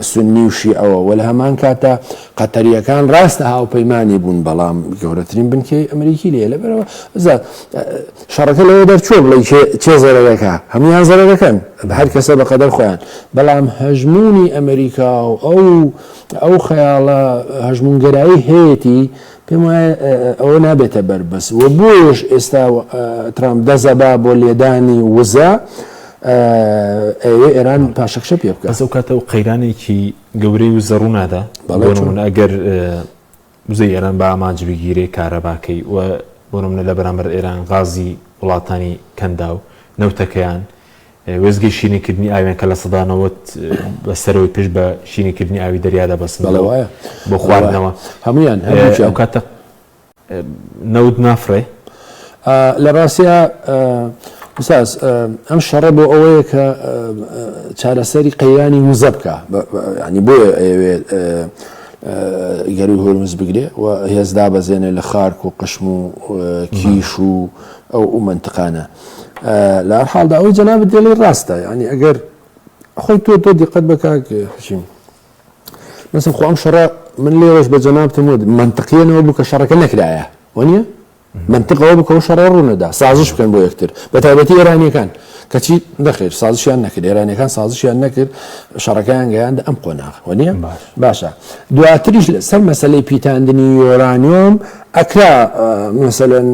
سوننی و شیعەوە وە لە هەمان کاتە قەتەریەکان ڕاستە هاوپەیمانانی بوون بەڵام گەورەترین بنکەی ئەمریکی لێ لەبەرەوە شەڕەکە لەوە دەرچوە بڵی چێ زەرەکە هەموان زەرەکەن هەر کەسە بە قەدەر خۆیان بەڵام هەژمونی ئەمریکا و ئەو ئەو خەیاڵە هەژمونگەرایی هەیەی پێم وایە ئەوە نابێتە بەربەست و بۆیەش ئێستا ترامپ دەزەبا بۆ لێدانی وزە ئەوێ ئێران پاشەکشە پێ بکە ئەو کاتە و قەیرانێکی گەورەی و زەڕوونادا بەڵێمون ئەگەر وزە ئێران بە ئامانج بگیرێ کارەباکەی و بۆنمە لە بەرامبەر ئێران غازی وڵاتانی کەندا و نەوتەکەیان وێستگەی شیرینکردنی ئاویان کە لە سەدا نەوەد بە سەرەوەی پشت بە شیرینکردنی ئاوی دەریا دەبەستنەوە بۆ خواردنەوە، ئەو کاتە نەوت نافڕێ. لە ڕاستیا ئوستاز ئەم شەڕە بۆ ئەوەیە کە چارەسەری قەیرانی وزە بکە ینی بۆیە ئەوێت گەروی هۆرمز بگرێ و هێزدا بەزێنێ لە خارک و قشم و کیش و ئەو ئەو منتقانە. لە هەر حاڵدا ئەوەی جەنابت دێڵی ڕاستە یعنی ئەگەر خۆی تۆ تۆ دیقەت بەکاک حشیم مثل خۆم شەڕە من لێوەش بە جەنابتم وت منطقیەنەوە بوو کە شەڕەکە نەکرایە وەنیە منطقەوە بکەەوە شەڕە ڕوونەدا سازش بکەن بۆ یەکتر بە تایبەتی ئێرانیەکان کەچی نەخێر سازشیان نەکرد ئێرانەکان سازشیان نەکرد شەڕەکەیان گەیاند ئەم قۆناغ وەنیە باشە دواتریش لەسەر مەسلەی پیتاندنی یۆرانیۆم ئەکرا مەسەلەن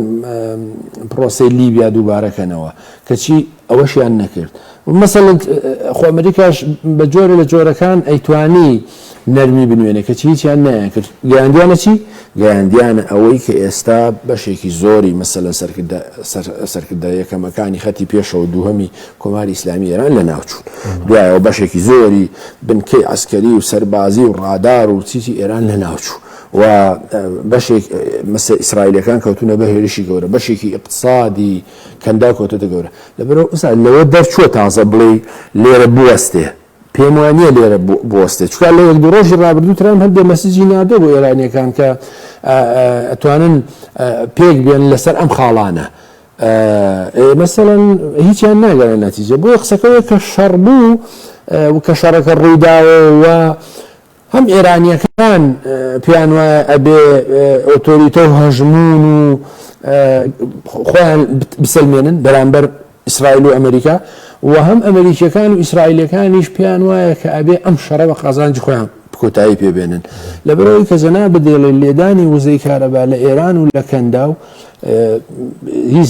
پرۆسەی لیبیا دووبارە کەنەوە کەچی ئەوەشیان نەکرد مەسەلەن خۆ ئەمریکاش بە جۆرە لە جۆرەکان ئەیتوانی نەرمی بنوێنێ کەچی هیچیان نەیانکرد گەیاندیانە چی گەیاندیانە ئەوەی کە ئێستا بەشێکی زۆری مەسەلەن سەرکردە یەکەمەکانی خەتی پێشەوە دووهەمی کۆماری ئیسلامی ئێران لە ناوچوون دوایەوە بەشێکی زۆری بنکەی عسکەری و سەربازی و ڕادار و چیزی ئێران لە ناوچوو و بەشێک مەسە ئیسرائیلەکان کەوتونە بە هێرشی گەورە بەشێکی ئقتصادی کەنداو کەوتەتە گەورە لەبەرەوە ئوسا لەوە دەرچووە تازە بڵێ لێرە بوەستێ پێم وانە لێرە بۆستێ چکا لە یەک ڕۆژی ڕابردوو ترام هەندێ مەسجی نادۆ بۆ ئێرانیەکان کە ئەتوانن پێک بێن لەسەر ئەم خاڵانە مەسەەن هیچیان ناگەرە نەتیجە بۆ قسەکەەوە کە شەڕ بوو کە شەڕەکە ڕوویداوە و هەم ئێرانییەکان پێیان وایە ئەبێ ئۆتۆریتە و هەژموون و خۆیان بسەلمێنن بەرامبەر ئیسرائیل و ئەمریکا و هەم ئەمریکیەکان و ئیسرائیلەکانیش پێیان وایە کە ئەبێ ئەم شەڕە بە قازانجی خۆیان کۆتایی پێبێنن لەبەرەوەی کە زەنا بدێڵێ لێدانی وزەی کارەبا لە ئێران و لە کەندا و هیچ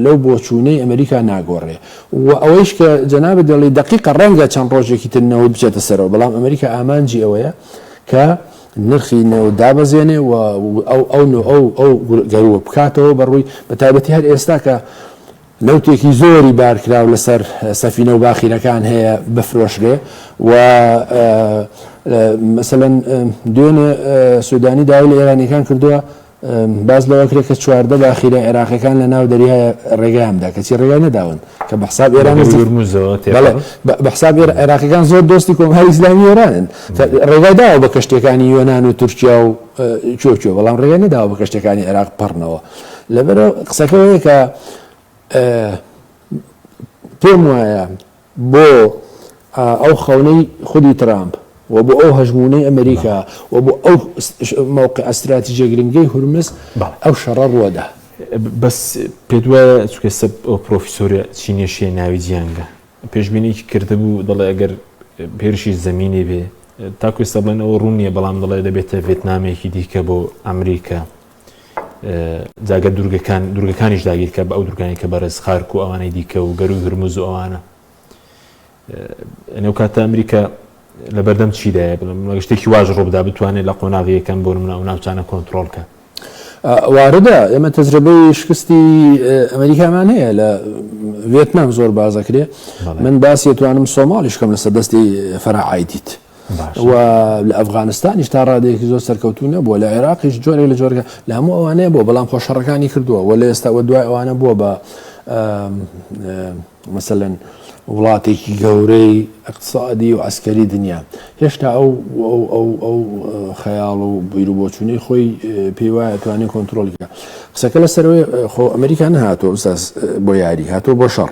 لەو بۆچوونەی ئەمریکا ناگۆڕێ وە ئەوەیش کە جەنابت دەڵێی دەقیقە ڕەنگە چەند ڕۆژێکی تر نەوت بچێتە سەرەوە بەڵام ئەمریکا ئامانجی ئەوەیە کە نرخی نەوت دابەزێنێ و ئەو ئەو نۆ ئەو ئەو گەروە بکاتەوە بەڕووی بە تایبەتی هەر ئێستا کە نەوتێکی زۆری بارکراو لەسەر سەفینە و باخیرەکان هەیە بفرۆشرێ و مەسەلەن دوێنێ سودانی داوای لە ئێرانیەکان کردووە باس لەوە کرێ کە چواردە باخیرە عێراقیەکان لە ناو دەریای ڕێگەیاندا کەچی ڕێگای نەداون کە بە حساب ئێران بە حساب عێراقیەکان زۆر دۆستی کۆماری ئیسلامی ئێرانن ڕێگای داوە بە کەشتەکانی یۆناان و تورکیا و چۆچۆ بەڵام ڕێگای نەداوە بە کەشتەکانی عێراق پڕنەوە لەبەرەوە قسەکەەوەیە کە پێم وایە بۆ ئەو خەونەی خودی ترامپ و بۆ ئەو هەژموونەی ئەمریکا و بۆ ئەو مەوقعە ستراتیجیە گرنگەی هورمز ئەو شەڕە ڕووەدا. بەس پێت وایە چونکە ئێستا ئەو پرۆفیسۆرە چینیە شیای ناوی جیانگە پێشبینیەکی کردبوو دەڵێ ئەگەر هێرشی زەمینی بێ تاکو ئێستا بڵێن ئەوە ڕوون نیە بەڵام دەڵێ دەبێتە ڤێتنامێکی دیکە بۆ ئەمریکا. جا گەر دوورگەکان دوورگەکانیش داگیر کە بە ئەو دوورگانی کە بەڕێز خارک و ئەوانەی دیکە و گەروی هرمز و ئەوانە ئەو کاتە ئەمریکا لە بەردەم چیدایە بڵم شتێکی واژ ڕۆبدا بتوانێت لە قۆناغیەکەم بۆ منە ئەو ناوچانە کۆنتترۆلکە واردە ئێمە تەجربەی شکستی ئەمریکامان هەیە لە وێتنام زۆر بازەکرێ من باسیێتوانم سۆماڵیشکەم لەسەر دەستی فەرعایدیت و لە ئەفغانستانیش تا ڕادێکی زۆر سەرکەوتو نەبووە لە عێراقیش جۆرێک لە جۆرگە لە هەموو ئەوانەیە بۆ بەڵام خۆشەڕەکانی کردووە و لە ئێستاوە دوای ئەوانە بووە بە مثلەن وڵاتێکی گەورەی اقتصادی و ئەسکەری دنیا هێشتا ئەو ئەو خەیاڵ و بیر و بۆچوونەی خۆی پێی وایە توانێت کۆنتترۆلکە قسەکە لە سەرەوەی خۆ ئەمریکا نهاتۆ بۆ یاری هاتۆ بۆ شەڕ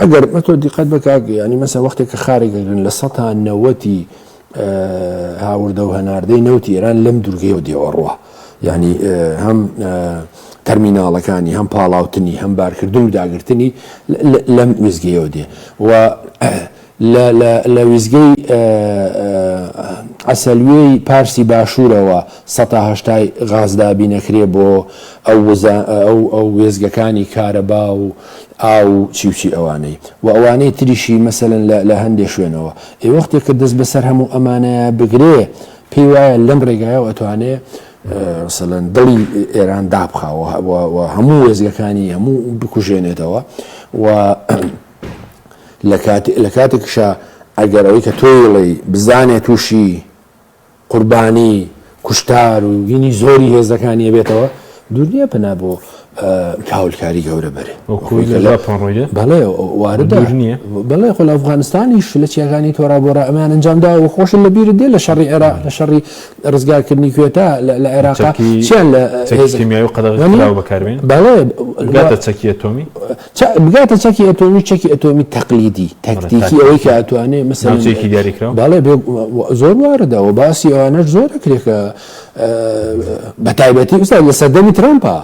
ئەگەر مە تۆ دیقەت بە کاک یانی مەسە وەختێک کە خارێک دەگرن لە سەتا نەوەتی هاوردە و هەناردەی نەوتی ئێران لەم دوورگەی و دێوەڕوە ینی هەم تەرمیناڵەکانی هەم پاڵاوتنی هەم بارکردن و داگرتنی لەم وێزگەیەوە دێ و لە لە لە وێستگەی عەسەلوێی پارسی باشوورەوە سەتا هەشتای غاز دابین ئەکرێ بۆ ئەو وزە ئەو ئەو وێستگەکانی کارەبا و ئاو و چی و چی ئەوانەی و ئەوانەی تریشی مەسەلەن لە لە هەندێ شوێنەوە ئێ وەختێ کە دەست بەسەر هەموو ئەمانەیە بگرێ پێی وایە لەم ڕێگایەوە ئەتوانێ مەسەلەن دڵی ئێران دابخا و و و هەموو وێستگەکانی هەموو بکوژێنێتەوە و لە کاتێکیشا ئەگەر ئەوەی کە تۆی ڵێی بزانێ تووشی قوربانی کوشتار و گینی زۆری هێزەکانی بێتەوە دوورنیە پنا بۆ کاولکاری گەورە بەرێ بەڵێ وارد نیە بەڵێ خۆ لە ئەفغانستانیش لە چیاگانی تۆرا بۆ ئەمان ئەنجامدا و خۆش لە بیر دێ لە شەڕی عێرا لە شەڕی ڕزگارکردنی کوێتا لە عێراقیان لە قەدەغ بەکارێن بەڵێ چەکی ئەتۆمی چە بگاتە چەکی ئەتۆمی و چەکی ئەتۆمی تەقلیدی بەڵێ تەکتیکی ئەوەی کە تاکتیکی ئەتوانێ مەسەلەن ناوچەیەکی دیاریکراو بەڵێ بێ زۆر واردە و باسی ئەوانەش زۆر دەکرێت کە بە تایبەتی ئوستا لە سەردەمی ترامپا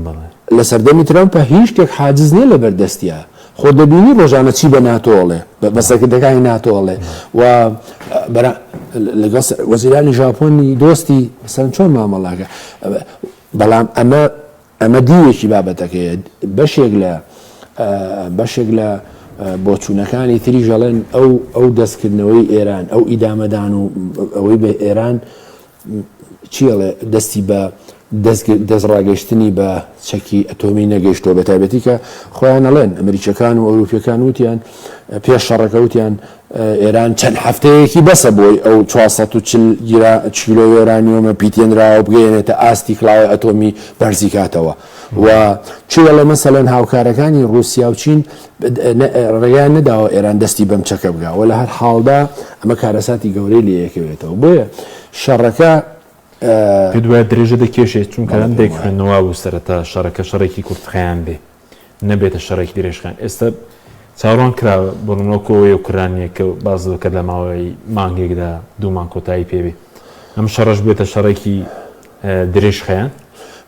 بەڵێ لە سەردەمی ترامپا هیچ شتێک حاجز نییە لەبەر دەستیا خۆ دەبینی ڕۆژانە چی بە ناتۆ ئەڵێ بە بە بەڵێ سەرکردەکانی ناتۆ ئەڵێ بەڵێ و بەرا لەگەڵ سە وەزیرانی ژاپۆنی دۆستی مەسەلەن چۆن مامەڵە ئەکا بەڵام ئەمە ئەمە دیوێکی بابەتەکەیە، بەشێک لە بەشێک لە بۆچوونەکانی تریش ئەڵێن ئەو ئەو دەستکردنەوەی ئێران، ئەو ئیدامەدان و ئەوەی بە ئێران چی ئەڵێ دەستی بە دەست ڕاگەشتنی بە چەکی ئەتۆمی نەگەشتەوە بە تایبەتی کە خۆیان ئەڵێن ئەمریکیەکان و ئەوروپیەکان وتیان پێش شەڕەکە وتیان ئێران چەند هەفتەیەکی بەسە بۆی ئەو چوار سەد و چل گرا کیلۆ یۆرانیۆمە پیتێنراوە بگەیەنێتە ئاستی کڵاوەی ئەتۆمی بەرزی کاتەوە و چی دەڵێ مەسەلەن هاوکارەکانی ڕووسیا و چین ڕێگەیان نەداوە ئێران دەستی بەم چەکە بگا و لە هەر حاڵدا ئەمە کارەساتی گەورەی لێ یەکەوێتەوە بۆیە شەڕەکە پێت وایە درێژە دەکێشێت چونکە هەندێک خوێندنەوا بوو سەرەتا شەڕەکە شەڕێکی کورتخایەن بێ نەبێتە شەڕێکی درێژخایەن ئێستا چاوەڕوان کراوە بۆ نموونە ئەو یۆکرانییە کە باست لەوە کرد لە ماوەی مانگێکدا دوو مانگ کۆتایی پێ بێت ئەم شەڕەش بێتە شەڕێکی درێژخایەن؟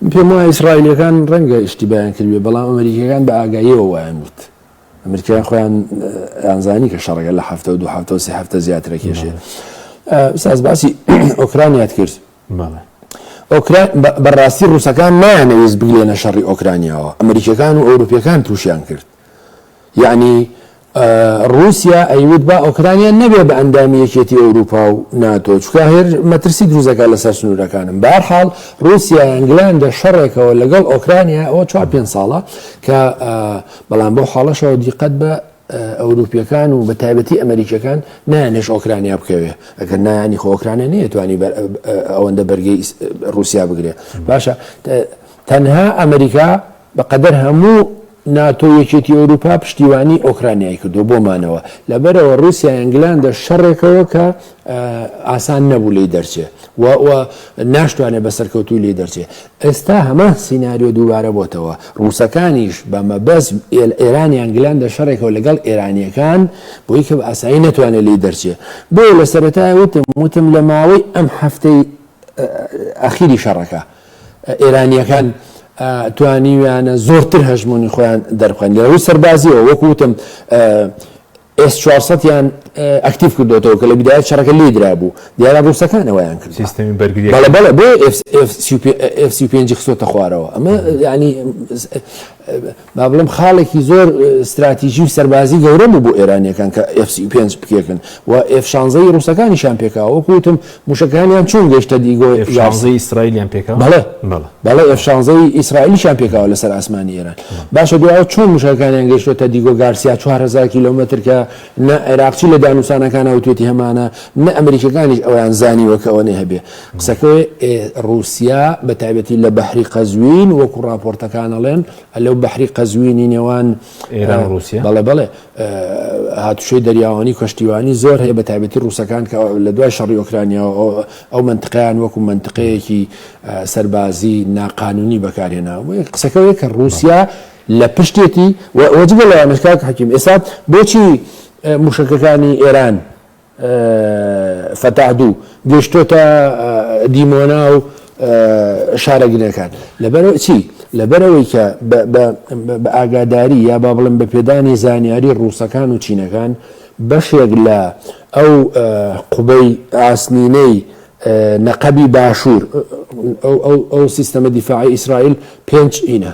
من پێم وایە ئیسرائیلییەکان ڕەنگە ئیشتیبایان کردبێت بەڵام ئەمەریکییەکان بە ئاگاییەوە وایان وت ئەمریکایان خۆیان ئەیانزانی کە شەڕەکە لە هەفتە و دوو هەفتە و سێ هەفتە زیاتر ئەکێشێت ساز باسی ئۆکرانیات کرد بەڵێ ئۆکرا بەڕاستی ڕوسەکان نایانەویست بگلێنە شەڕی ئۆکرانیاوە ئەمریکیەکان و ئەوروپیەکان تووشیان کرد یعنی رووسیا ئەیوت با ئۆکرانیا نەبێ بە ئەندامی یەکێتی ئەوروپا و ناتۆ چکە هێر مەترسی دروزەکە لەسەر سنوورەکانم بارحاڵ رووسیا ئەنگلاندە شەڕێکەوە لەگەڵ ئۆکرانیا ئەوە چوار پێ ساڵە کە بەڵام بۆ حاڵەشەوە دیقەت بە ئەوروپیەکان و بە تایبەتی ئەمریکیەکان نایانێش ئۆکرانیا بکەوێ ئەگەر نایانی خۆکرانە نەیەتوانی ئەوەندە بەرگی رووسیا بگرێ باشە تەنها ئەمریکا بەقەدەر هەموو ناتۆ یەکێتی ئەوروپا پشتیوانی ئۆکرانیای کردو بۆمانەوە لەبەرەوە رووسیا ئەنگلاندا شەڕێکەوە کە ئاسان نەبوو لێی دەرچێ و و ناشتوانێت بە سەرکەوتوی لێ دەرچێ ئێستا هەمان سینناریۆ دووبارە بۆتەوە ڕووسەکانیش بە مەبەز ئێرانیان گلان دە شەڕێکەوە لەگەڵ ئێرانیەکان بۆی کە ئاسایی نەتوانێت لێ دەرچێ بۆ لە سەرەتای وتم وتم لە ماوەی ئەم هەفتەی ئەخیری شەڕەکە ئێرانیەکان توانیویانە زۆرتر هەژمونی خۆیان دەرخوێن لە ڕووی سەربازیەوە وەکوتم ئێس چوار سەد یان ئەکتیڤ کردۆتەوە کە لە بیدایەت شەڕەکە لێی درابوو دیارە ڕووسەکان ئەوەیان کرد سیستمی بەرگری بەڵێ بەڵێ بۆ ئێف سی پێنجی خستۆتە خوارەوە ئەمە ینی با بڵم خاڵێکی زۆر استراتیژی و سەربازی گەورە بوو بۆ ئێرانیەکان کە ئێف سی پێنج بکێکن و ئێف شانزەی ڕووسەکانیشان پێکاوە وەکوتم موشەکەکانیان چۆن گەیشتە دیگۆ ئێف شانزەی ئیسرائیلیان پێکاو؟ بەڵێ بەڵێ ئێف شانزەی ئیسرائیلیشیان پێکاوە لەسەر ئاسمانی ئێران باشە دوای ئەوە چۆن موشەکەکانیان گەیشتۆتە دیگۆ گارسیا چوار هەزار کیلۆمەتر کە نە عێراقچی لە دانوسانەکانا وتوێتی هەمانە نە ئەمریکیەکانیش ئەوەیان زانیوە کە ئەوەنەی هەبێ قسەکەی ڕوسیا بە تایبەتی لە بەحری قەزوین وەکو ڕاپۆرتەکان ئەڵێن لەو بەحری قەزوینی نێوان ئێران و ڕوسیا بەڵێ بەڵێ هاتوچۆی دەریاوانی و کەشتیوانی زۆر هەیە، بەتایبەتی ڕووسەکان کە لە دوای شەڕی ئۆکرانیاوە ئەو مەنتقەیان وەکو مەنتقەیەکی سەربازی ناقانونی بەکارهێناوە. قسەکە ئەوەیە کە ڕووسیا لە پشتێتی و جگە لەوانەش کاک حەکیم ئێستا بۆچی مووشەکەکانی ئێران فەتاح دوو گەشتۆتە دیمۆنا و شارە گرنەکان لەبەر چی لەبەرەوەی کە بە ئاگاداری یا با بڵم بە پێدانی زانیاری ڕووسەکان و چینەکان بەشێک لە ئەو قوبەی ئاسنینەی نەقەبی باشوور ئەو سیستەمە دیفاعی ئیسرائیل پێنج ئینە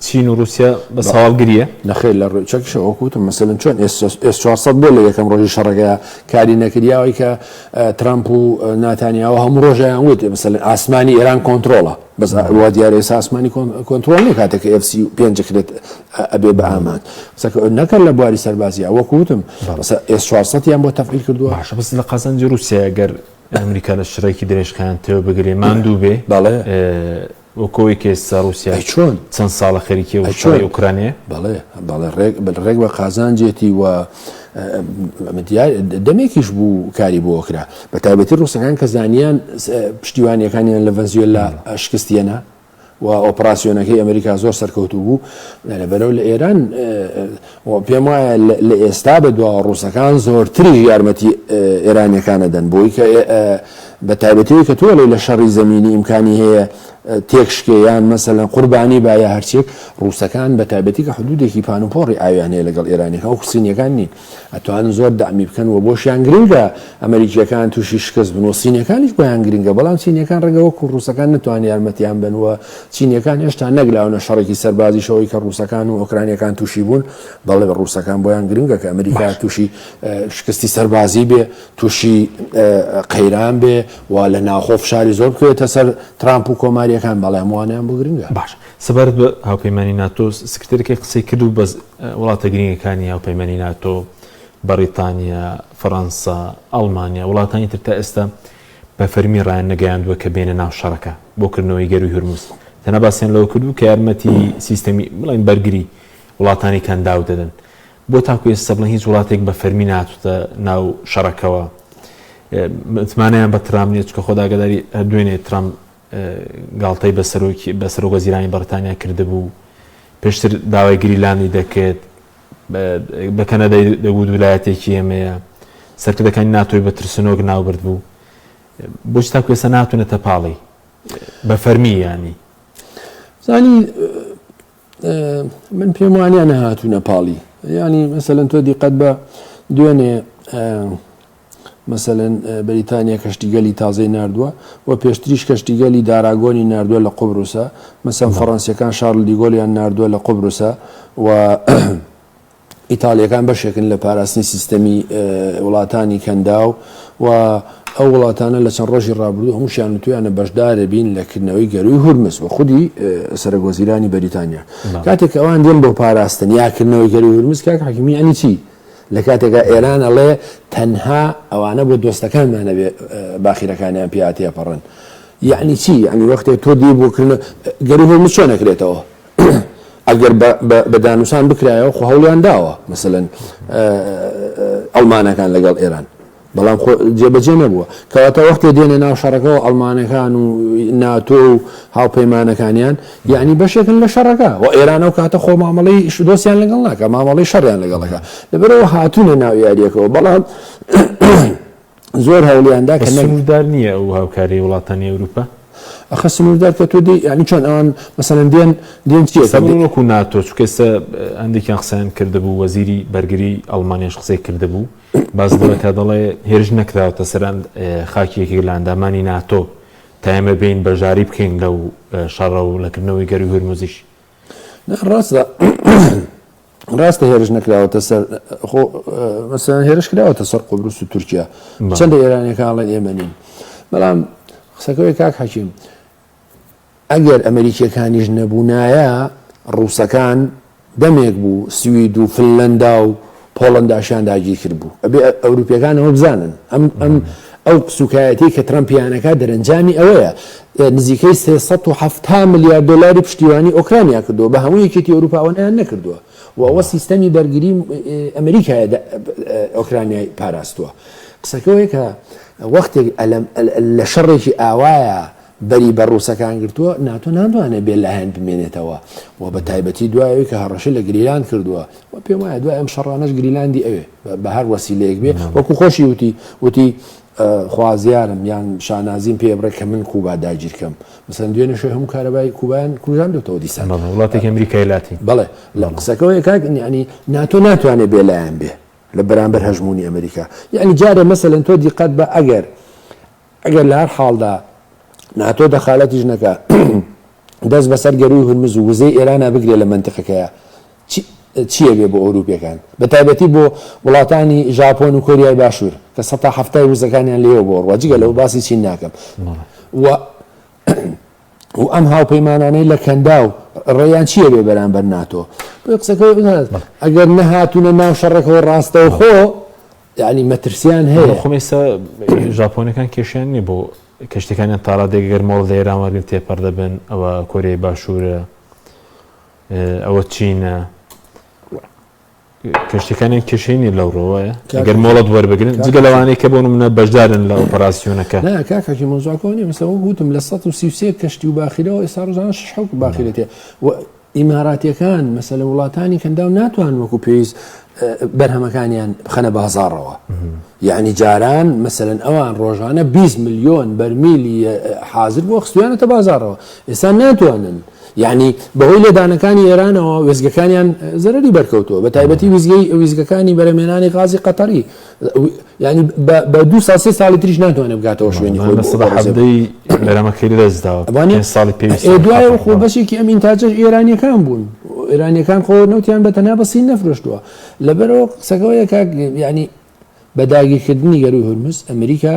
چین و روسیا بە ساڵ گریە نەخێر لە ڕێ چەکیشە وەکوتم مەسەن چۆن ئێس 400 بۆ لە یەکەم ڕۆژی شەڕەکەیا کاری نەکریاوەی کە ترامپ و ناتانیاوە هەموو ڕۆژیان وت مەسەن ئاسمانی ئێران کۆنتترۆڵە بەس وا دیارە ئێسا ئاسمانی کۆنتترۆل نیە کاتێک FC پێنج کرێت ئەبێ بە ئامان نەکەن لە بواری سەربازیە وەکوتم ئێس 400 یان بۆ تەفیل کردووە باشە بەس لە قازانجی رووسیا گەر ئەمریکا لە شڕێکی درێژخان تێو بگرێ ماندوو بێ بەڵێ وکۆی کە ئێستا ڕوسیا چەند ساڵە خەریکی ئەو شەڕی ئۆکرانیە؟ بەڵێ بەڵێ ڕێک بە قازانجێتی و دەمێکیش بوو کاری بۆ کرا بە تایبەتی ڕوسەکان کە زانیان پشتیوانیەکانیان لە ڤەنزیۆل لە شکستیەنە و ئۆپراسسیۆنەکەی ئەمریکا زۆر سەرکەوتو بوو لەبەرەو لە ئێران و پێم وایە لە ئێستا بە دوا ڕووسەکان زۆرتریش یارمەتی ئێرانیەکان ئەدەن بۆی کە بە تایبەتی ئەوی کە تۆ ئەڵێی لە شەڕی زەمینی ئیمکانی هەیە تێک شکێ یان مەسەلەن قوربانی با یا هەرچێک ڕووسەکان بە تایبەتی کە حدودێکی پانوپۆڕی ئاویان هەیە لەگەڵ ئێرانیەکان و حسینیەکان نین ئەتوانن زۆر دامی بکەن و بۆشیان گرنگە ئەمریکیەکان تووشی شکست بن و سینیەکانیش بۆیان گرنگە بەڵام سینیەکان ڕێگەوە و ڕووسەکان نتوان یارمەتیان بن و چینیەکان هێشتا نەگلاونە شەڕێکی سەربازیش ئەوەی کە ڕووسەکان و ئۆکرانیەکان تووشی بوون دەڵێ بە ڕووسەکان بۆیان گرنگە کە ئەمریکا تووشی شکستی سەربازی بێ تووشی قەیران بێ و لە ناوخۆ فشاری زۆر بکەوێتە سەر ترامپ و کۆماریەکان بەڵێ هەمووانیان بۆ گرنگە باش سەبارەت بە هاوپەیمانی ناتۆ سکرتێرەکەی قسەی کرد و بە وڵاتە گرنگەکانی هاوپەیمانی ناتۆ بەڕیتانیا فەرەنسا ئەڵمانیا وڵاتانی تر تا ئێستا بە فەرمی ڕایان نەگەیاندووە کە بێنە ناو شەڕەکە بۆ کردنەوەی گەرووی هورمز، تەنها باسیان لەوە کردوو کە یارمەتی سیستەمی بڵێین بەرگری وڵاتانی کەنداو دەدەن. بۆ تاکو ئێستا بڵێن هیچ وڵاتێک بە فەرمی نەهاتووتە ناو شەڕەکەوە متمانەیان بە ترامپ نییە، چونکە خۆت ئاگاداری هەر دوێنێ ترامپ گاڵتەی بە سەرۆک وەزیرانی بەڕیتانیا کردبوو، پێشتر داوای گریلاندی دەکرد، بە کەنەدای دەگوت ولایەتێکی ئێمەیە، سەرکردەکانی ناتۆی بە ترسنۆک ناوبردبوو، بۆچی تاکو ئێستا نهاتونەتە پاڵی بە فەرمی یانی؟ زانی من پێم وانە نەهاتوونە پاڵی ینی مەسەن تۆ دیقەت بە دوێنێ مەسەلەن بەریتانیا کەشتیگەلی تازەی ناردووە و پێشتریش کەشتیگەلی داراگۆنی ناردووە لە قوبروسە، مەسەن فەڕەنسییەکان شارل دیگۆلیان ناردووە لە قوبروسە و ئیتاڵییەکان بەشێکن لە پاراستنی سیستەمی وڵاتانی کەنداو و ئەو وڵاتانە لە چەند ڕۆژی ڕابردوو هەمووشیان وتویانە بەشدارە بین لە کردنەوەی گەرووی هورمز و خودی سەرەک وەزیرانی بەریتانیا کاتێک ئەوان دێن بۆ پاراستن یا کردنەوەی گەرووی هورمز کاک حەکیمی یانی چی؟ لە کاتێکا ئێران ئەڵێ تەنها ئەوانە بۆ دۆستەکانمان ئەبێ باخیرەکانیان پێیا تێپەڕن یعنی چی یعنی وەختێک تۆ دی بۆکردن گەری هۆ مچۆ نەکرێتەوە ئەگەر بە دانوسان بکرایەوە خۆ هەوڵیان داوە مثلەن ئەڵمانەکان لەگەڵ ئێران بەڵام خۆ جێبەجێ نەبووە. کەواتە وەختێ دێنە ناو شەڕەکەوە ئەڵمانەکان و ناتۆ و هاوپەیمانەکانیان، یەعنی بەشێکن لە شەڕەکە. وە ئێران ئەو کاتە خۆ مامەڵەی دۆستیان لەگەڵ ناکا، مامەڵەی شەڕیان لەگەڵ ئەکا. لەبەرئەوە هاتوونە ناو یارییەکەوە، بەڵام زۆر هەوڵیان دا کە نەگرن. سنووردار نییە ئەو هاوکارییەی وڵاتانی ئەوروپا؟ ئەخە سنووردار کە تۆ دێی، یەعنی چۆن ئەوان مەسەلەن دێن، دێن چییە کە. ئێستا بڕۆ وەکوو ناتۆ، چونکە ئێستا هەندێکیان قسەیان کردبوو، وەزیری بەرگریی ئەڵمانیاش قسەی کردبوو، باس لەوە دەکات، دەڵێ هێرش نەکراوەتە سەر خاکی یەکێک لە ئەندامانی ناتۆ تا ئێمە بێین بەشداری بکەین لەو شەڕە و لە کردنەوەی گەرووی هورموزیش. ڕاستە ڕاستە هێرش نەکراوەتە سەر خۆ مەسەن هێرش کراوەتە سەر قۆبرس و تورکیا چەندە ئێرانەکانڵێن ئێمە نین بەڵام قسەکەی کاک حەکیم ئەگەر ئەمەریکیەکانیش نەبونایە ڕوسەکان دەمێک بوو سوید و فنلەندا و پۆڵەنداشیان داگیرکردبوو ئەبێ ئەوروپیەکان ئەوە بزانن ئەم ئەم ئەو سوکایەتی کە ترەمپیانەکە دەرەنجامی ئەوەیە نزیکەی سێ سەد و حەفتا ملیار دۆلاری پشتیوانی ئۆکرانیا کردووە بە هەموو یەکێتی ئەوروپا ئەوە نیان نەکردووە و ئەوە سیستەمی بەرگری ئەمەریکایە ئۆکرانیای پاراستووە قسەکەوەیە کە وەختێک لە شەڕێکی ئاوایە بەری بە ڕووسەکان گرتووە، ناتۆ ناتوانێت بێ لایەن بمێنێتەوە و بە تایبەتی دوای ئەوەی کە هەڕەشەی لە گریلاند کردووە و پێم وایە دوای ئەم شەڕانەش گریلاندی ئەوێ بە هەر وەسیلەیەک بێ وەکو خۆشی وتی وتی خوازیارم یان شانازیم پێ بڕێ کە من کوبا داگیر کەم مەسەن دوێنێ شوێ هەموو کارەبای کوبایان کوژاندوتەوە دیسان وڵاتێک ئەمریکای لاتی بەڵێ لە قسەکەەوەی کاک ینی ناتۆ ناتوانێت بێلایەن بێ لە بەرامبەر هەژمونی ئەمریکا یعنی جارێ مەسەن تۆ دیقەت بە ئەگەر ئەگەر لە هەر حاڵدا ناتۆ دەخالەتیش نەکا دەست بەسەر گەرووی هورمز و وزەی ئێرانا بگرێ لە مەنتقەکەیە چییە بێ بۆ ئەوروپیەکان بە تایبەتی بۆ وڵاتانی ژاپۆن و کۆریای باشوور کە سە تا هەفتای وزەکانیان لێوە بۆ ڕوە جگە لەو باسی چین ناکەم و و ئەم هاوپەیمانانەی لە کەندا و ڕێیان چییە بێ بەرامبەر ناتۆ قسەکە ئەگەر نەهاتوونە ناو شەڕەکەەوە ڕاستەوخۆ یعنی مەترسیان هەیە بەڵام خۆ ئێستا ژاپۆنەکان کێشیان نییە بۆ کەشتەکانیان تاڕادێک گەر مۆڵ لە ئێران وەرگرن تێپەڕ دەبن ئەوە کۆریای باشوورە ئەوە چینە کەشتەکانیان کێشەی نیە لەو ڕۆوەیە گەر مۆڵەت وەربگرن جگە لەوانەیە کە بۆ منە بەشدارن لە ئۆپەراسسیۆنەکە کاکەکی مۆزاکۆنی مەسەوە گوتم لە 133 کەشتی و باخیرەوە ئێستا ڕژان شحوک باخیرێتێ ئیماراتیەکان مەسەلە وڵاتانی کەنداو ناتوان وەکو پێویست بەرهەمەکانیان بخەنە بازاڕەوە یعنی جاران مەسەن ئەوان ڕۆژانە 20 میلیۆن بەرمیلی حاضر بۆ خستویانەتە بازارەوە ئێستا ناتوانن یعنی بەهۆی لێدانەکانی ئێرانەوە وێزگەکانیان زەرری بەرکەوتووە بە تایبەتی ویزگەی ویزگەکانی بەرەمێنانی غازی قەتەری یعنی بە دو ساڵ سێ ساڵی تریش ناتوانێت بگاتەوە شوێنی خۆی مامە سەباح عەبدی بەرەمەکەی لەدەستداوە ئەوانێ پێنج ساڵی پێویستە ئێ دوایە و خۆ بەشێکی ئەم ئینتاجەش ئێرانیەکان بوون ئێرانیەکان خۆ نەوتیان بە تەنها بە سین نەفرۆشتووە لەبەرەوە قسەکەەوە یەکاک یعنی بە داگیرکردنی گەروی هورمز ئەمریکا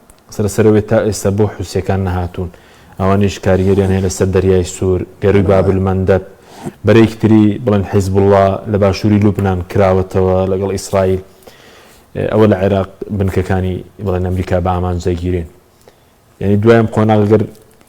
سەرەسەرەوەی تا ئێستا بۆ حوسیەکان نەهاتوون ئەوانیش کاریگەریان هەیە لەسەر دەریای سوور، گەرووی باب المندب، بەرەیەکی تری بڵێن حیزبوڵڵا لە باشووری لوبنان کراوەتەوە لەگەڵ ئیسرائیل ئەوە لە عێراق بنکەکانی بڵێن ئەمریکا بە ئامانج دەگیرێن یانی دوای ئەم قۆناغە گەر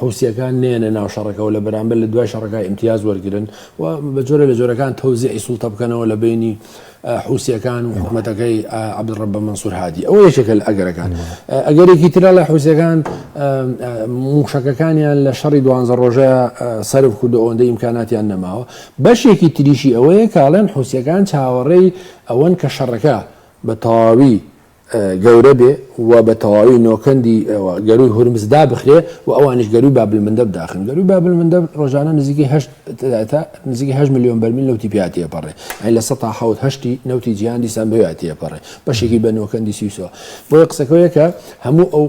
حوسیەکان نەیەنە ناو شەڕەکەوە لە بەرامبەر لە دوای شەڕەکە ئیمتیاز وەرگرن و بە جۆرە لە جۆرەکان تەوزیعی سوڵتە بکەنەوە لە بینی حوسیەکان و حکوومەتەکەی عبدڕبە منسوور هادی ئەوە یەکێکە لە ئەگەرەکان ئەگەرێکی ترە لە حوسەکان موشەکەکانیان لە شەڕی دوانزە ڕۆژە سرف کردو ئەوەندە ئیمکاناتیان نەماوە بەشێکی تریشی ئەوەیە کاڵێن حوسەکان چاوەڕێی ئەوەن کە شەڕەکە بە تەواوی گەورە بێ و بە تەواوی نۆکەندی ئەوە گەرووی هورمز دابخرێ و ئەوانیش گەرووی بابلمندەب داخن. گەرووی بابلمندەب ڕۆژانە نزیکەی هەشت تا نزیکەی هەشت ملیۆن بەرمیل نەوتی پیا تێپەڕێ، یانی لە سەتا حەوت هەشتی نەوتی جیهان دیسان بەوێیا تێپەڕێ، بەشێکی بە نۆکەندی سویسەوە. بۆیە قسەکە وەیە کە هەموو ئەو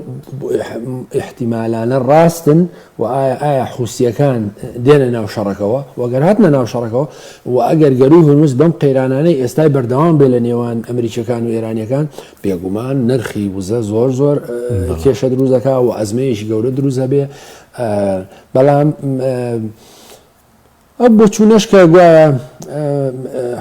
ئیحتیمالانە ڕاستن وە ئایا ئایا حوسییەکان دێنە ناو شەڕەکەوە؟ وە گەر هاتنە ناو شەڕەکەوە و ئەگەر گەرووی هورمز بەم قەیرانانەی ئێستای بەردەوام بێ لە نێوان ئەمریکییەکان و ئێرانییەکان بێگومان نرخی وزە زۆر زۆر کێشە دروست دەکا و ئەزمەیەکی گەورە دروست دەبێ بەڵام ئەو بۆچوونەش کە گوایە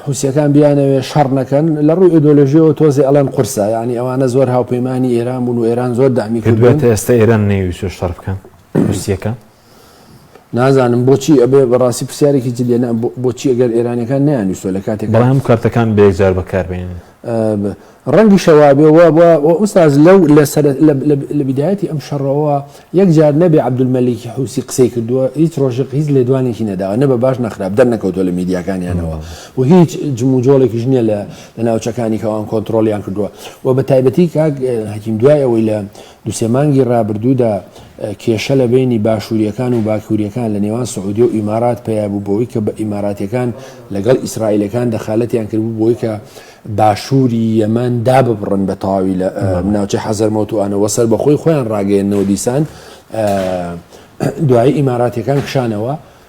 حوسییەکان بیانەوێ شەڕ نەکەن، لە ڕووی ئیدۆلۆژییەوە تۆزێ ئەڵێن قورسە، یانی ئەوانە زۆر هاوپەیمانی ئێران بوون و ئێران زۆر داعمی کردوون. پێت وایە تا ئێستا ئێران نەیویستووە شەڕ بکەن حوسییەکان؟ نازانم بۆچی ئەبێ بەڕاستی پرسیارێکی جدییە، بۆچی ئەگەر ئێرانییەکان نەیانویستووە لە کاتێکدا. بەڵام کارتەکان بە یەکجار بەکاربهێنن. ڕەنگیشە وابێ وا بوە و ئوستاز لەو لە سەر لە بدایەتی ئەم شەڕەوە یەک جار نەبێ عەبدولمەلیکی حوسی قسەی کردووە هیچ ڕۆژق هیچ لێدوانێکی نەداوە نە بە باش نەخراپ دەرنەکەوتوە لە میدیاکانیانەوە و هیچ جموجۆڵێکیش نییە لە لە ناوچەکانی کەوان کۆنتترۆلیان کردووە و بە تایبەتی کاک حەکیم دوای ئەوەی لە دوو سێ مانگی رابردوودا کێشە لە بەینی باشوورییەکان و باکوورییەکان لە نێوان سعودیە و ئیمارات پەیا بوو بەوەی کە بە ئیماراتییەکان لە گەڵ ئیسرائیلەکان دەخالەتیان کرد بوو بەوەی کە باشووری یەمەن داببڕن بە تەواوی لە ناوچەی حەزەرمەوت و ئانەوە سەربەخۆی خۆیان راگەیەننەوە دیسان دوایی ئیماراتییەکان کشانەوە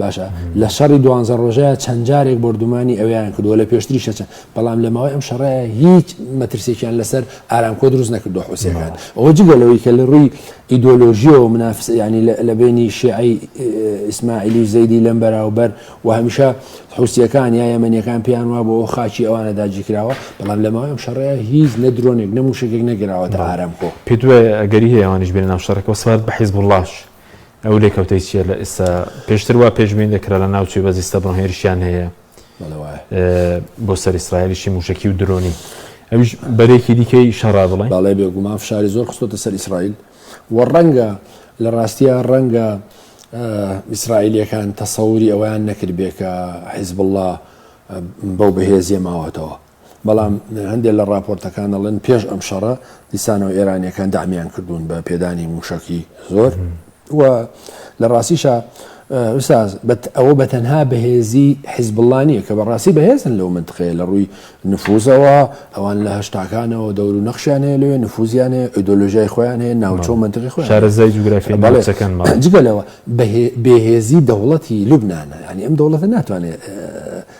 باشە لە شەڕی دوانزە ڕۆژەیە چەند جارێک بردومانی ئەویان کردووە لە پێشتریشە چەند بەڵام لە ماوەی ئەم شەڕەیە هیچ مەترسێکیان لەسەر ئارامکۆ دروست نەکردو حوسەکان ئەوە جگەلەوەی کە لە ڕووی ئیدۆلۆژیەوە منافس ینی لە بینی شیعی ئیسماعیلی و زەیدی لەم بەراوبەر و هەمیشە حوسەکان یا یەمەنیەکان پێیان وا بۆ خاچی ئەوانە داجیکراوە بەڵام لە ماوەی ئەم شەڕەیە هیچ نە درۆنێک نەموشێک نەگراوەتە ئارامکۆ پێ دوێ ئەگەری هەیەوانش بێن ناو شەڕەکە سوارد بە حیزب وڵاش ئەو لێکەوتەی چیە لە ئێستا پێشتر وا پێشبین دەکرا لە ناوچی بە زیستە بڕۆ هێرشیان هەیە بۆ سەر ئیسرائیلیشی موشکی و درۆنی ئەوش بەرێکی دیکەی شەڕا بڵێ باڵێ بێگومان فشاری زۆر خستۆتە سەر ئیسرائیل و ڕەنگە لە ڕاستیە ڕەنگە ئیسرائیلەکان تەسەوری ئەویان نەکرد بێکە حیزب الله بەو بەهێزیە ماوەتەوە بەڵام هەندێک لە ڕاپۆرتەکان دەڵێن پێش ئەم شەڕە دیسانەوە ئێرانیەکان دامیان کردوون بە پێدانی موشەکی زۆر و لە ڕاستیشە ئوساز ئەوە بە تەنها بەهێزی حیزبڵانیە کە بەڕاستی بەهێزن لەو منتقەیە لە ڕووی نفوزەوە ئەوان لە هشتاکانەوە دەور و نەخشیان هەیە لەوێ نفوزیان هەیە ئۆیدۆلۆژای خۆیان هەیە ناوچۆ منتقی خۆ شارەزای جوگرافیەکەن جگەلەوە بەهێزی دەوڵەتی لوبناە ینی ئەم دەوڵەتە ناتوانێت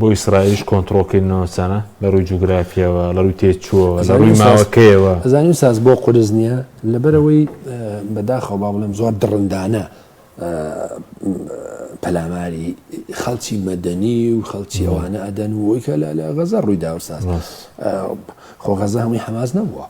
بۆ ئیسرائیلیش کۆنتڕۆڵکردنی ناوچانە لە ڕووی جوگرافییەوە، لە ڕووی تێچووەوە، لە ڕووی ماوەکەیەوە. ئەزانی ئوستاز بۆ قورس نییە؟ لەبەرئەوەی بەداخەوە با بڵێم زۆر دڕندانە پەلاماری خەڵکی مەدەنی و خەڵکی ئەوانە ئەدەن و ئەوەی کە لە غەزە ڕووی دا ئوستاز، خۆ غەزە هەمووی حەماس نەبووە.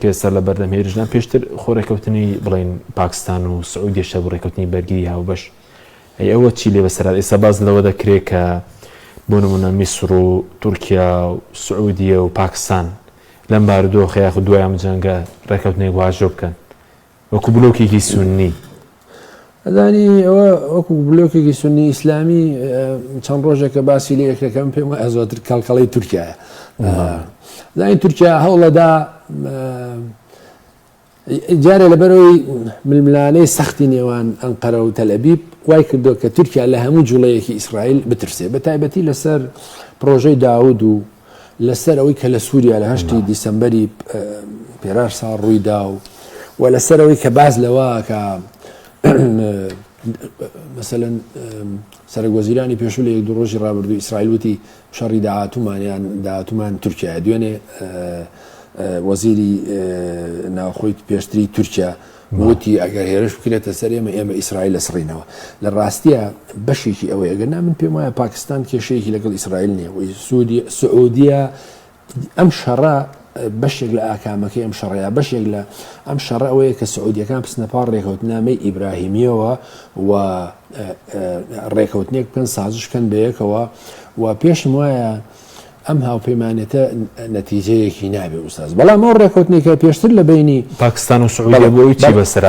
کە ئێستا لە بەردەم هێرشدان پێشتر خۆ ڕێکەوتنی بڵین پاکستان و سعودیشە بۆ ڕێکەوتنی بەرگری هاوبەش ئەی ئەوە چی لێ بەسەرات ئێستا باز لەوە دەکرێت کە بۆ نمونە میسر و تورکیا و سعودیە و پاکستان لەم بارودۆخەیە خو دوایان جەنگە ڕێکەوتنێک واژۆ بکەن وەکو بلۆکێکی سوننی ئەزانی ئەوە وەکو بلۆکێکی سنی ئیسلامی چەند ڕۆژێکە باسی لە یەکەکەم پێم وایە زۆتر کەڵکەڵی تورکایە زانی تورکیا هەوڵەدا جارێ لەبەرەوەی ململانەی سەختی نێوان ئەنقەرە و تەلەبیب وای کردو کە تورکیا لە هەموو جوڵەیەکی ئیسرائیل بترسێ بە تایبەتی لەسەر پرۆژەی داود و لەسەر ئەوەی کە لە سووریا لە هەشتی دیسەمبەری پێرار ساڵ ڕوویدا و و لەسەر ئەوەی کە باز لەوە کە مەسەن سەرک وەزیرانی پێشوو لە یەک دو ڕۆژی ڕابردوو ئیسرائیل وتی شەڕی داهاتومانیان داهاتومان تورکیا دوێنێ وەزیری ناوخۆیت پێشتری تورکیا وتی ئەگەر هێرش بکرێتە سەر ئێمە ئێمە ئیسرائیل لەسڕینەوە لە ڕاستیە بەشێکی ئەوەی ئەگەر نا من پێم وایە پاکستان کێشەیەکی لەگەڵ ئیسرائیل نیە وی سوودی سعودیە ئەم شەڕە بەشێک لە ئاکامەکەی ئەم شەڕەیە بەشێک لە ئەم شەڕ ئەوەیە کە سعودیەکان پسنەپار ڕێکوتنامەی ئیبراهیمیەوە و ڕێکوتنێک بکەن سازشکەن بەیەکەوە و پێشم وایە ئەم هاوپەیمانێتە نەتیجەیەکی نابێ ئوستاز بەڵام ئەو ڕێکوتنێکە پێشتر لە بینی پاکستان و سعودیە بۆی چی بەسەر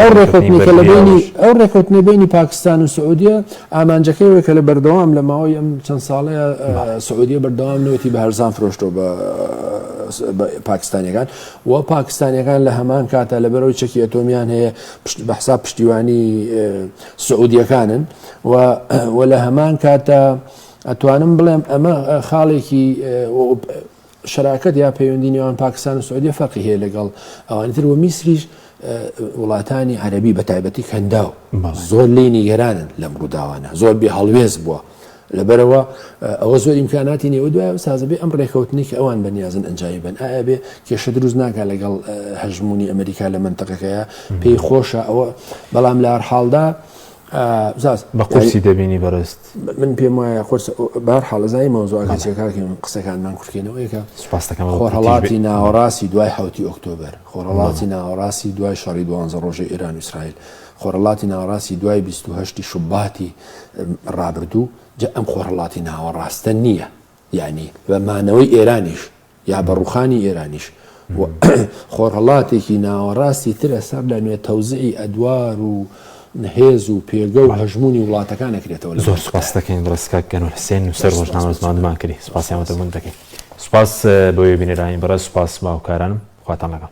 ئەو ڕێکوتنە بینی پاکستان و سعودیە ئامانجەکەی وەکە لە بەردەوام لە ماوەی ئەم چەند ساڵەیە سعودیە بەردەوام نوێتی بە هەرزان فرۆشتۆ بە پاکستانیەکان و پاکستانیەکان لە هەمان کاتە لە بەرەوەی چەکی ئەتۆمیان هەیە بەحسا پشتیوانی سعودیەکانن و لە هەمان کاتە ئەتوانم بڵێم ئەمە خاڵێکی شراکەت یا پەیوەندی نێوان پاکستان و سعودیە فەرقی هەیە لەگەڵ ئەوانی تر و میسریش وڵاتانی عەربی بە تایبەتی کەنداو زۆر لی نیگەرانن لەم ڕووداوانە زۆر بێ هەڵوێز بووە لەبەرەوە ئەوە زۆر ئیمکاناتی نێوە دوای و سازبێ ئەم ڕێکەوتنی کە ئەوان بەنیازن ئەنجامی بن ئایا بێ کێشە دروست ناکە لەگەڵ هەژمونی ئەمریکا لە منتەقەکەیە پێی خۆشە ئەوە بەڵام لە هەرحاڵدا بە قورسی دەبینی بەرست من پێم وایە قرس بار حاڵزای مەوزوعەکە چێکاکەین قسەکانمان کورتکەینەوەیکە سپاستەکەم خۆرهڵاتی ناوەڕاستی دوای حوتی ئۆکتۆبر خۆرهڵاتی ناوەڕاستی دوای شەڕی دوانزە ڕۆژە ئێران ویسرائیل خۆرهڵاتی ناوەڕاستی دوای 28 شوباتی ڕابردوو جا ئەم خۆرهڵاتی ناوەڕاستە نییە یعنی بە مانەوەی ئێرانیش یا بە ڕوخانی ئێرانیش و خۆرهەڵاتێکی ناوەڕاستی ترە سەر لە نوێ تەوزعی ئەدوار و هێز و پێگە و هەژمونی وڵاتەکان نەکرێتەوە لە زۆر سپاس دەکەین ڕێسکاک گەنۆل حسێن نووسەر ڕۆژنامە زمانمان کردی سپاسیان وتەمون دەکەین سپاس بۆیە بینەرانی بەڕێز سپاس باوکارانم خواتان لەگەڵ